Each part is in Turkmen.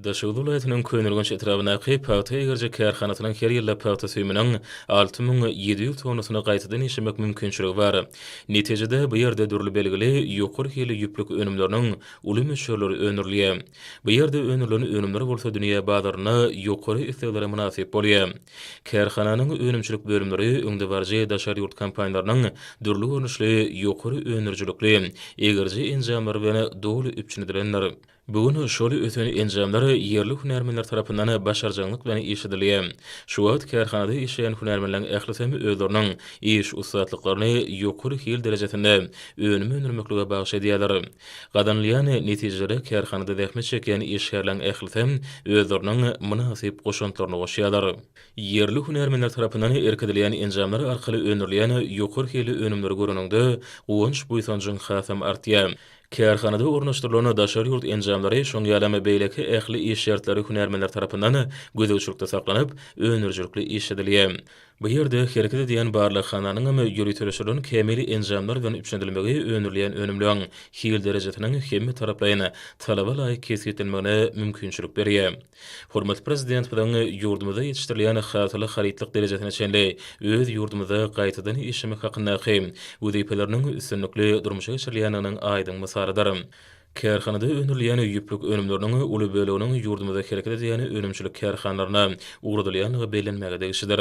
Daşoguz welaýatynyň Köneürgenç etrabyndaky pagta egerjek kärhanasynyň her ýylda pagta süýüminiň alty müň ýedi ýüz tonnasyny gaýtadan işlemek mümkinçiligi bar. Netijede, bu ýerde dürli belgili ýokary hilli ýüplük önümleriniň uly möçberleri öndürilýär. Bu ýerde öndürilen önümler bolsa dünýä bazarynda ýokary isleglere mynasyp bolýar. Kärhananyň önümçilik bölümleri öňdebaryjy daşary ýurt kompaniýalarynyň dürli görnüşli ýokary öndürijilikli egerje enjamlary bilen doly üpjün edilendir. Bu gün şol ösen enjamlar ýerli hünärmenler tarapyndan başarjaňlyk bilen işledilýär. Şu wagt kärhanada işleýän hünärmenleriň ählisem özleriniň iş ussatlyklaryny ýokary hil derejesinde önüm öndürmeklige bagyş edýärler. Gazanylýan netijelere kärhanada zähmet çekýän işgärleriň ählisem özleriniň mynasyp goşantlaryny goşýarlar. Ýerli hünärmenler tarapyndan irkidilýän enjamlar arkaly öndürilýän ýokary hilli önümleri göreniňde, guwanç-buýsanjyň hasam artýar. Kärhanada ornaşdyrylan daşary ýurt enjamlary, şoň ýaly hem beýleki ähli iş şertleri hünärmenler tarapyndan gözegçilikde saklanyp, öndürijilikli işledilýär. Bu ýerde hereket edýän barlaghananyň hem ýöriteleşdirilen kämil enjamlar bilen üpjünedilmegi öndürilýän önümleriň hil derejesiniň hemmetaraplaýyn, talaba laýyk kesgitlenmegine mümkinçilik berýär. Hormatly Prezidentimiziň ýurdumyzda ýetişdirilýän hasyly harytlyk derejesine çenli öz ýurdumyzda gaýtadan işlemek hakyndaky wezipeleriniň üstünlikli durmuşa geçirilýändiginiň aýdyň mysalydyr. Kärhanada öndürilýän ýüplük önümleriniň uly böleginiň ýurdumyzda hereket edýän önümçilik kärhanalaryna ugradylýandygy bellenmäge degişlidir.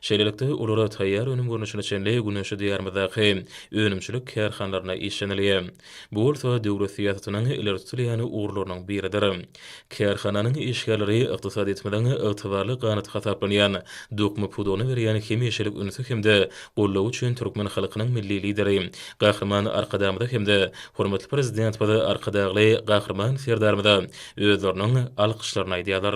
Şeýlelikde, olar taýýar önüm görnüşine çenli Güneşli Diýarymyzdaky önümçilik kärhanalaryna işlenilýär. Bu bolsa döwlet syýasatynyň ileri tutulýan ugurlarynyň biridir. Kärhananyň işgärleri ykdysadyýetimiziň ygtybarly ganaty hasaplanýan dokma pudagyna berýän hemişelik ünsi hem-de goldawy üçin türkmen halkynyň Milli Lideri Gahryman Arkadagymyza hem-de hormatly Prezidentimiz Arkadagly Gahryman Serdarymyza özleriniň alkyşlaryny aýdýarlar.